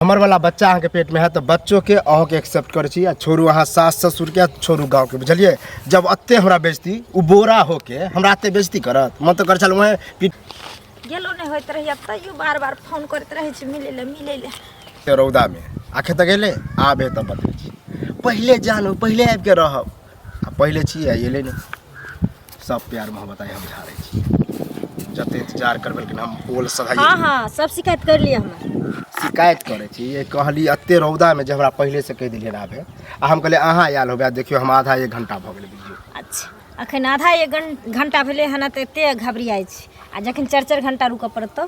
हमर वाला बच्चा अहाँके पेटमे है तऽ बच्चोके अहूँके एक्सेप्ट करै छी आ छोड़ू अहाँ सास ससुरके छोड़ू गाँवके बुझलियै जब एते हमरा बेचती ओ बोरा होके हमरा एते बेचती करत मन तऽ करै छल वएह पीट गेलो नहि होइत रहैए तैयो बार बार फोन करैत रहै छै मिलै लए मिलै लए रौदामे आखे तऽ गेलै आबे तऽ बतबै छी पहिले जानू पहिले आबिके रहब आ पहिले छी आ एलै नहि सब प्यार मोहब्बत आइ हम झाड़ै छी जते इंतजार करबै कि हम ओल सधाइ हाँ हाँ सब शिकायत कर लिए हमें शिकायत करै छी ये कहली एते रौदा में जे हमरा पहले से कह दिलिए आबे आ हम कहले अहाँ आयल होबे देखियो हम आधा एक घंटा भ गेल बुझियो अच्छा अखन आधा एक घंटा भेले हन तऽ एते घबरियाइ छी आ जखन चारि चारि घंटा रुकऽ पड़त तऽ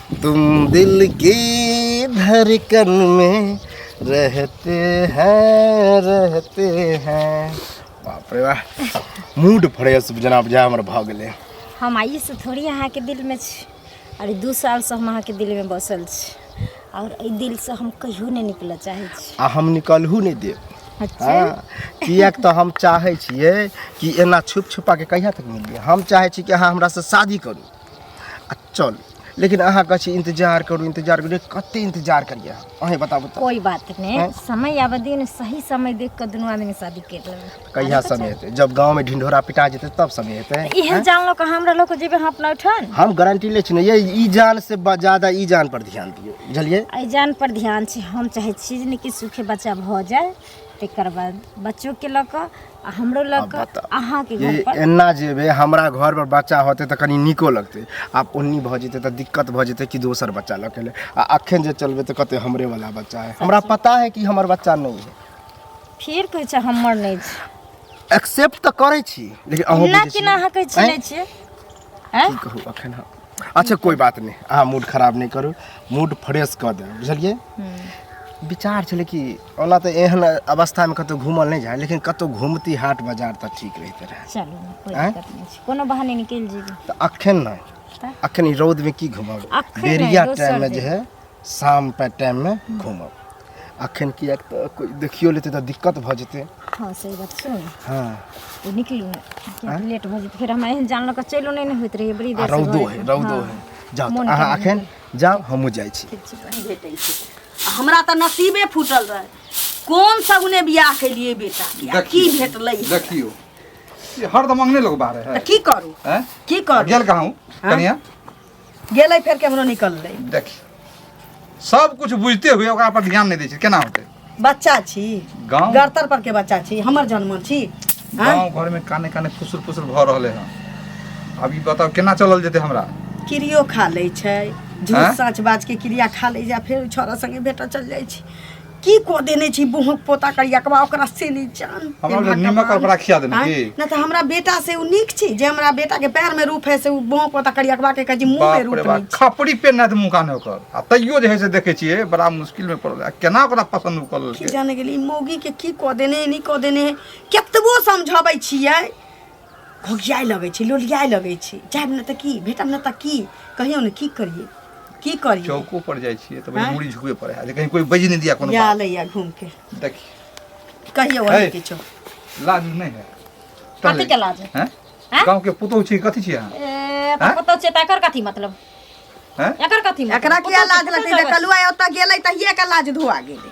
तुम दिल की धड़कन में रहते हैं रहते हैं बाप रे वाह मूड फ्रेश जेना बुझाय हमर भऽ गेलै हम आइएसँ थोड़ी अहाँके दिलमे छी अरे दू सालसँ हम अहाँके दिलमे बसल छी आओर एहि दिलसँ हम कहियो नहि निकलऽ चाहै छी आ हम निकलहु नहि देब अच्छा हँ किएक तऽ हम चाहै छियै कि एना छुप छुपा के कहिया तक मिलियै हम चाहै छी कि अहाँ हमरासँ शादी करू चल लेकिन अहाँ कहै छी इंतजार करू इंतजार करू कते इंतजार करिए अहें बताबू तऽ कोई बात नहीं हैं? समय आवे दिन सही समय देख के दोनों आदमी शादी कर लेबे कहिया समय हेतै जब गाँव में ढिंढोरा पिटा जेतै तब समय हेतै इहे जान लो के हमरा लोग के जेबे हम अपना उठन हम गारंटी ले छी ने ये ई जान से ब- ज्यादा ई जान पर ध्यान दियौ बुझलियै एहि जान पर ध्यान छै हम चाहै छी जे कि सुखे बच्चा भऽ जाय तकर बाद बच्चोके लऽ कऽ आ हमरो लग आब बताउ। अहाँ के ये घर पर एना जेबे हमरा घर पर बच्चा होते तऽ कनी नीको लगते आब ओन्नी भऽ जेते तऽ दिक्कत भऽ जेते कि दोसर बच्चा लऽ के ले आ अखन जे चलबे तऽ कहते हमरे वाला बच्चा है हमरा पता है कि हमर बच्चा नहीं है फिर कहै छै हमर नहि छै एक्सेप्ट तऽ करै छी लेकिन अहूँ ना बुझै कि ना अहाँ कहै छी छियै। नहि छियै हैं? की कहू अखन हम अच्छा कोई बात नहीं अहाँ मूड खराब नहीं करू मूड फ्रेश कऽ देब बुझलियै विचार छलै कि ओना तऽ एहन अवस्थामे कतहु घूमल नहि जाय लेकिन कतहु घूमती हाट बाजार तऽ ठीक रहिते रहए चलू ने, कोई हैं? दिक्कत नहीं छै कोनो बहाने निकल जेबी तऽ अखन नहि तऽ अखन ई रौदमे की घूमब अखन नहि, बेरिया दोसर टाइममे जे दिन। है शाम पे टाइम में घूमब अखन किएक तऽ कोइ देखियो लेतै तऽ दिक्कत भऽ जेतै हाँ सही बात छै हाँ तो निकलू ने किएक तऽ लेट भऽ जेतै फेर हमरा एहन जान लऽ कऽ चलो नहि ने होइत रहैए बड़ी आ देर रौदो है रौदो है जाउ तऽ मोन अहाँ कम अखन जाउ हमहूँ जाइ छी ठीक छै नहि भेटै छै आ हमरा तऽ नसीबे फूटल रहै कोन सगुने बियाह केलिए बेटा के आ की भेटलै हमरा? देखियो ये हरदम अंगने लोग बाहर है तऽ की करू हैं? की करू गेल कहाँ हूँ कनिया गेलै फेर केमरो निकललै देखी सब कुछ बुझते हुए ओकरा पर ध्यान नहीं दै छै केना होतै बच्चा छी गाँव गड़तर पर के बच्चा छी हमर जन्म छी आँय? गाँव घर में काने काने फुसुर फुसुर भऽ रहले हन अब ई बताओ केना चलल जेतै हमरा किरियो खा लै छै झूठ आँय? साँच बाज के किरिया खा लै जा फेर छोरा संगे भेटऽ चल जाइ छी की को देने छी बुहक पोता करियकवा ओकरा से नी जान हमरा ले नीमक कपड़ा खिया देने आँय? की ना तो हमरा बेटा से उ नीक छी जे हमरा बेटा के पैर में रूप है से उ बुहक पोता करियकवा के कहे छी मुंह में बाप रे रूप बाप नीक छी। खपड़ी पे ना मुका ने ओकर आ तैयो जे है से देखे छियै बड़ा मुश्किल में पड़ल आ केना ओकरा पसंद उ करल की जाने गेली मौगी के की को देने नी को देने केतबो समझाबै छियै घोघियाए लगै छी लोलियाए लगै छी जायब ने तऽ की भेटब ने तऽ की कहियौ ने की करियै की करियै चौको पर जाइ छियै तऽ बड़ी मुड़ी झुकबे पड़े है जे कहीं कोई बजि नहीं दिया कोनो या बात लैया घूम के देखी कहियौ है। अहाँ किछो लाज नहीं है कथी के लाज है? हैं? हैं? गाँव के पुतोह छी कथी छी अहाँ ए, तऽ पुतहु छियै तऽ एकर कथी मतलब हैं? एकर कथी मतलब एकरा किया पुतहु लाज छियै, लगतै पुतहु जे कलुआ ओतऽ गेलै तहिये के लाज धोआ गेलै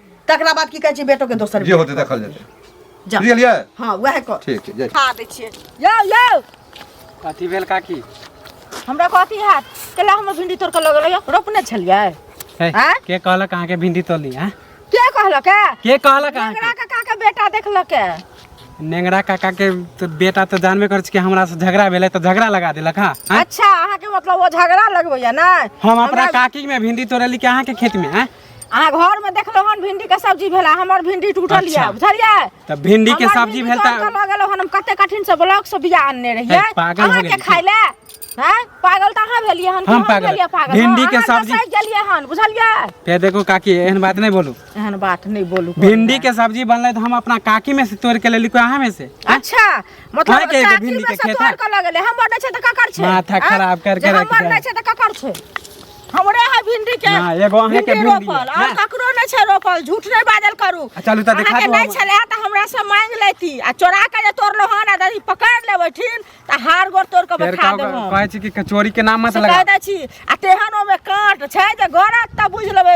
तकरा बाद की कहै छै बेटो के दोसर जे होते देखल जेतै जा बुझलियै हाँ वएह कर ठीक छै जय खा दै छियै यौ यौ कथी भेल काकी हमरा कथी हैत कैला हमर भिंडी तोड़ के लगल यौ रोपने छलियै हे, आँय? के कहलक अहाँके भिंडी तोली हैं? के कहलक है के कहलक अहाँके एकरा काका के बेटा देखलक है नेंगरा काका के तो बेटा तो जानबे करै छी कि हमरा से झगड़ा भेलै तो झगड़ा लगा देलक हाँ हैं? अच्छा अहाँके मतलब वो झगड़ा लगबैया ने हम अपना हमरा- काकी में भिंडी तोड़ली कि अहाँके खेत में हैं? अहाँ घर में देखलो हन भिंडी के सब्जी भेला हमर भिंडी टूटल अच्छा। ये बुझलिए त भिंडी के सब्जी भेल त लग गेलो हन हम कते कठिन से ब्लॉक से बिया आनने रहिए ए, पागल हो अहाँ के गेली। खाइ ले हैं पागल त अहाँ भेलिए हन कि हम पागल। भेलिए पागल भिंडी के अहाँ तऽ सब्जी- सहि गेलिए हन बुझलिए ते देखो काकी एहन बात नहीं बोलू एहन बात नहीं बोलू भिंडी के सब्जी बनले त हम अपना काकी में से तोड़ के लेली कोई अहाँ में से अच्छा मतलब खाए के एगो काकी भिंडी में के से खेत तोड़ है। के लग गेलै हमर नै छै त ककर छै माथा आँय? खराब कर के जब रख हमर दे। नै छै त ककर छै हमरे है भिंडी के ना, एगो अहें के भिंडी भिंडी रोपल है। और ना। ककरो नहीं छै रोपल झूठ नहीं बाजल करू आ, चलू तऽ देखा अहाँके दू नहीं हम- छलै तऽ हमरा से मांग लेती आ चोरा के जे तोड़लो हन आ यदि पकड़ लेबै ठीक तऽ हार गोड़ तोड़ के फेर बैठा का देब हम कहै छी कि कचोरी के नाम मत से लगा कह दै छी आ तेहन ओमे काँट छै जे गरत तऽ बुझि लेबै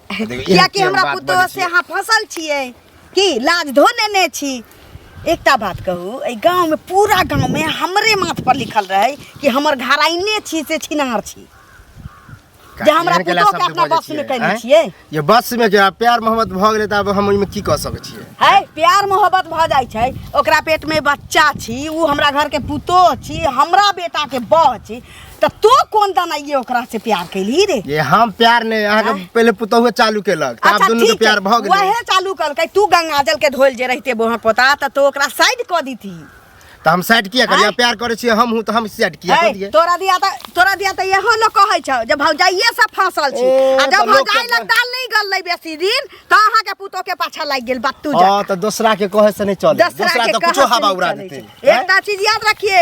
कियाकि हमरा पुतो से अहाँ फंसल छियै की लाज धो नेने छी एकटा बात कहू एहि गाँवमे पूरा गाँवमे हमरे माथ पर लिखल रहै कि हमर घराइने छी से छिनार छी जे हमरा एहन केला पुतोह के शब्द अपना बजै बस में छियै, कयने आँय? छियै ये बस में क्या प्यार मोहब्बत भऽ गेलै तऽ आब हम ओहिमे की कऽ सकै छियै है प्यार मोहब्बत भऽ जाइ छै ओकरा पेटमे बच्चा छी ओ हमरा घरके पुतोह छी हमरा बेटाके बह छी तो तू कोन दाना ये ओकरा से प्यार कैली रे ये हम प्यार ने अहाँ के पहले पुतहुआ चालू केलक त आप दोनों के प्यार भ गेल वहे चालू कलकै तू गंगाजल के धोल जे रहते बोहा पोता त तो ओकरा साइड क दीती त हम साइड किया करिया आँय? प्यार करे छी हम हूं त हम साइड किया है, कर दिए तोरा दिया त तोरा दिया त यहो लोग कहै छौ जे भौजाइये से फांसल छी ए, आ त जब लोग भौजाइ के- लग दाल नहीं गललै बेसी दिन त अहाँ के पुतो के पाछा लागि गेल बात तू जा हां त दूसरा के कहे से नहीं चले दूसरा के कुछो कहत हवा नहीं उड़ा चलै देते छै। एकटा चीज याद रखिए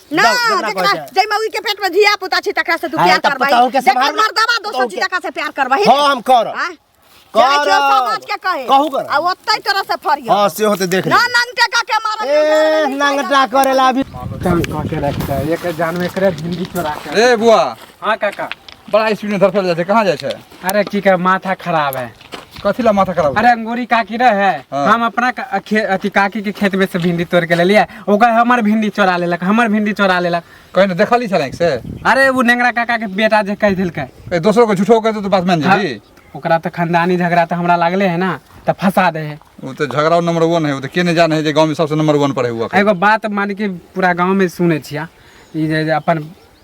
ना जाओ, जकरा जेकरा कहै छै। जय मौगी के पेट में धिया पुता छी तकरा से तू हाँ, प्यार तब करबा पताओ के जेकर संभाल- मर्दवा दोसर पताओ छी के- तकरा से प्यार करबा हाँ, हम करब। करब समाज के कहे कहू करब। आ ओतै तरह से फरियो हां से होते देख ना ले नंगटे का के मारल ए नंगटा करेला अभी चल कह के रखता है एक जान में करे जिंदगी चोरा के ए बुआ हाँ काका बड़ा स्पीड में धड़फड़ जाइ छै कहाँ जाइ छै अरे की कर माथा खराब है कथी ला माथा खराब अरे अंगूरी काकी रहे है हाँ। हम अपना का- खे- अथी काकी के खेत में से भिंडी तोड़ के ले लिया ओकर हमर भिंडी चोरा लेलक हमर भिंडी चोरा लेलक कहीं ना देखली छल आँखि से अरे वो नेंगरा काका के बेटा जे कह दिलके कहीं दोसरो के झूठो कहते तो बात मान हाँ, जाबी ओकरा तो खानदानी झगड़ा तो हमरा लागले है ना तो फंसा दे है वो तो झगड़ा नंबर वन है वो तो के नहीं जाने है जे गांव में सबसे नंबर वन पर है हुआ एगो बात मान के पूरा गांव में सुने छिया ई जे जे अपन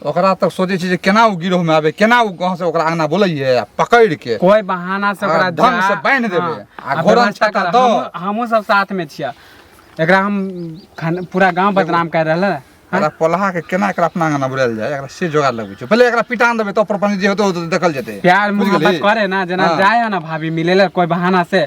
ओकरा तक सोचे छी जे केना ओ गिरोह में आबे केना ओ गांव से ओकरा अंगना बोलैये आ पकड़ के कोई बहाना से आ ओकरा ढंग जा- से बान्हि देबै। हाँ, आ आ घोड़ा व्यवस्था छाता कर- दो। हमहूँ- हमहूँ सब साथ में छिया एकरा हम खान- पूरा गांव बदनाम कर रहल है एकरा पोलहा के केना एकरा अपना अंगना बुलायल जाय एकरा से जोगाड़ लगबै छै पहिले एकरा पिटान देबै तो प्रपंच जे होतो देखल जेतै प्यार बुझि मोहब्बत गेली? करे ना जना हाँ। जाए है ना भाभी मिले ला कोई बहाना से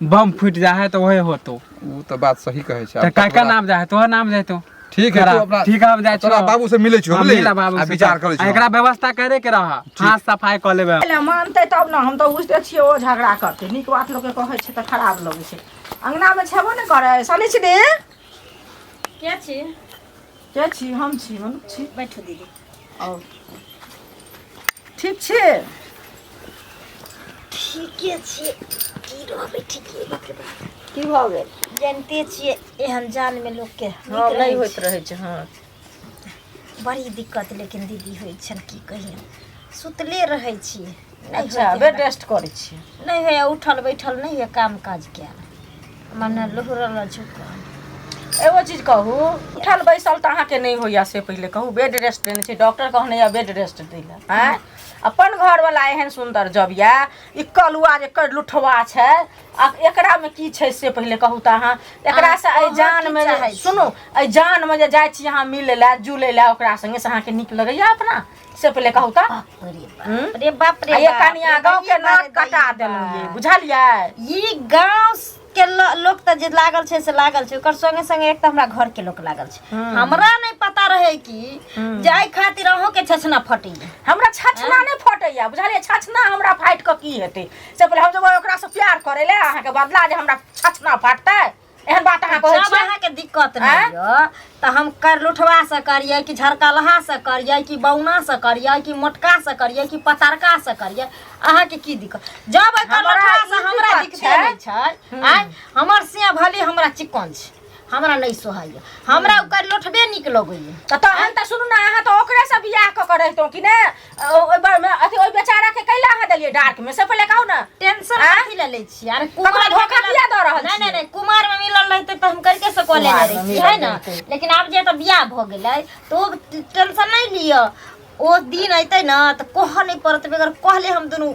बम फूट जा है तो वही होतो उ तो बात सही कहे छै तो काका नाम जा है तो नाम जाए तो ठीक है अपना ठीक हम जाए तोरा बाबू से मिले छो मिले आ विचार करे छो एकरा व्यवस्था करे के रहा हां सफाई क लेबे पहले मानते तब ना हम तो बुझते छिए ओ झगड़ा करते निक बात लोग के कहे छै त खराब लगे छै अंगना में छेबो ने करे सने छी दे के छी के छी हम छी मन छी बैठो दीदी और ठीक छी ठीके छी की रहबे ठीके बाप रे बाप की भऽ गेल जानते छियै एहन जान में लोग के नीक हँ रहै नहि होइत छै। रहै छै हँ बड़ी दिक्कत लेकिन दीदी होइ छन की कहियन सुतले रहै छियै नहि अच्छा होइए। बेड रेस्ट करै छियै नहि होइए उठल बैठल नहि होइए काम काज कयल मने लुहरल झुकल एगो चीज कहू उठल बैसल तऽ अहाँके नहि होइया से पहिले कहू बेड रेस्ट देने छै डॉक्टर कहने यऽ बेड रेस्ट दै लए आँय अपन घरवला एहन सुन्दर जब यऽ ई कलुआ जे कर लुठवा छै आ एकरामे की छै से पहिले कहू तऽ अहाँ एकरासँ अहाँ एहि कहऽ जानमे की जे- चाहै छी? सुनू एहि जानमे जे जाइ छी अहाँ मिलै लए जुलै लए ओकरा सङ्गे से अहाँके नीक लगैया अपना से पहिले कहू तऽ बाप रे बाप हम्म? रे बाप रे आ ये बाप, कनिया रे गाँव के बाप, नाक रे कटा बाप। देलहुँ ये बुझलियै ई गांव के ल- लोग त जे लागल छै से लागल छै ओकर संगे संगे एक त हमरा घर के लोग लागल छै हम्म। हमरा नहीं पता रहे कि हम्म। जाय खातिर अहूं के छछना फटी हमरा छछना नहि फटैया बुझलियै छछना हमरा फाटि कऽ की हेतै से पहिले हम जेबै ओकरासँ प्यार करै लए अहाँके बदला जे हमरा छछना फाटतै एहन बात अहाँ कहै जब छियै अहाँके दिक्कत आँय? नहि यऽ तऽ हम कर लुठवा से करियै कि झरकलहा से करियै कि बौना से करियै कि मोटका से करियै कि पतरका से करियै अहाँके की दिक्कत जब एकर हमरा लुठवा से ई हमरा दिक्कत दिक्कते छै। नहि छै आँय हमर से भली हमरा चिकन छै हमरा नहि सोहाइए हमरा ओकर लोठबे नीक लगैए तऽ तहन तऽ सुनू ने अहाँ तऽ ओकरे से बियाह कऽ के रहितहुँ कि ने ओहि बार मे अथी ओहि बेचारा के कैला अहाँ देलियै डार्क में से पहिले कहू ना टेंशन आँय? कथी ले ले छी अरे ककरो कुमार धोखा किया दऽ रहल नहीं छी? नहीं नहीं कुमार में मिलल रहते तो हम करके से कॉलेज कुमार में रही मिलल है ना रहतै। लेकिन अब जे तो बियाह भ गेलै तो ओ टेंशन नहीं लियो ओ दिन अइतै ना तो कह नहीं पड़त बेगर कहले हम दुनू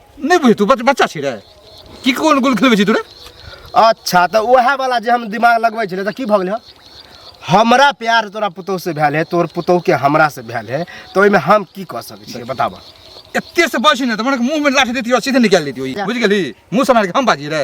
नहीं बुझे तू बच- बच्चा छी रे की कोन गोल खेलबे छी तू रे अच्छा तऽ उएह वाला जे हम दिमाग लगबै छलै तऽ की भऽ गेलै हँ? हमरा प्यार तोरा पुतोह से भेल है तोर पुतोह के हमरा से भेल है तऽ ओहिमे हम की कऽ सकै छियै बताबऽ एते से बस ने त मन मुंह में लाठी देती और सीधे निकाल लेती बुझ गेली मुंह से मार के हम बाजी रे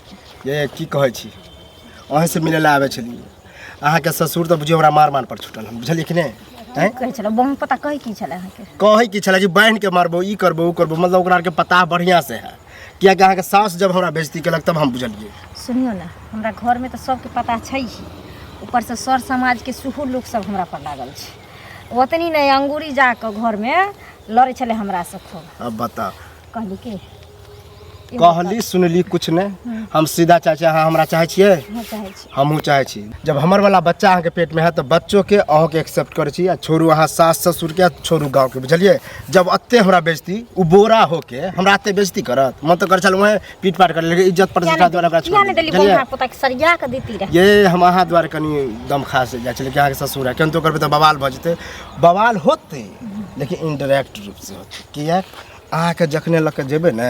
ये की कहै छी अहीँसँ मिलै लए आबै छलियै अहाँके ससुर तऽ बुझियौ हमरा मार मार पर छुटल हन बुझलियै कि नहि आँय? की कहै छलै बहन पता कहै की छलै अहाँके कहै की छलै कि बान्हि के मारबो ई करबो ओ करबो मतलब ओकरा आरके पता बढ़िआँ से है कियाकि अहाँके सास जब हमरा बेजती केलक तब हम बुझलियै सुनियौ ने हमरा घरमे तऽ सबके पता छै ही ऊपरसँ सर समाजके सेहो लोक सब हमरा पर लागल छै ओतनी नहि अंगूरी जाकऽ घरमे लड़ै छलै हमरासँ खूब अब बताओ कहली के इहो कहली सुनली कुछ नहीं हम सीधा चाहे छी अहाँ हमरा चाहे छियै बात हम चाहै छी हमहूँ चाहे छी जब हमर वाला बच्चा अहाँके पेट में है तो बच्चो के अहूँ के एक्सेप्ट करे छी आ छोड़ू अहाँ सास ससुर के आ छोड़ू गाँव के बुझलिए जब अत्ते हमरा बेजती उ बोरा होके हमरा अत्ते बेजती करत मन तो कर छल वहाँ पीट पाट कर लेकिन इज्जत प्रतिष्ठा द्वारा ओकरा छोड़ यानी देली देली, बुझलियै? बौआ पोता के सरिया के देती रहे ये हम अहाँ द्वारा कनि दम खा से जाइ छलै कि अहाँके ससुर है केहन तो करबै तऽ बवाल भऽ जेतै बवाल होतै लेकिन इनडायरेक्ट रूपसँ होतै किएक अहाँके जखने लऽ के जेबै ने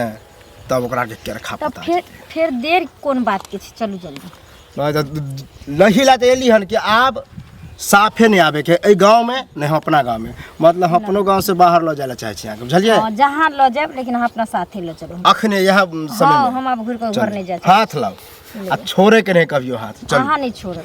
तब ओकरा के केरखा तब पता फिर फिर देर कोन बात के छै चलू जल्दी नहि तऽ लही लए तऽ एली हन कि आब साफे नहि आबे के एहि गाँव में नहि हम अपना गाँव में मतलब हम अपनो गाँव से बाहर लऽ जाय लए चाहै छी अहाँके बुझलियै हँ, जहाँ लऽ जायब लेकिन अहाँ अपना साथे लऽ चलू अखने इएह हँ समय हम आब घुरि कऽ घर नहि जाइ छी हाथ लाउ आ छोड़े के नहीं कभियो हाथ चल अहाँ नहि छोड़ब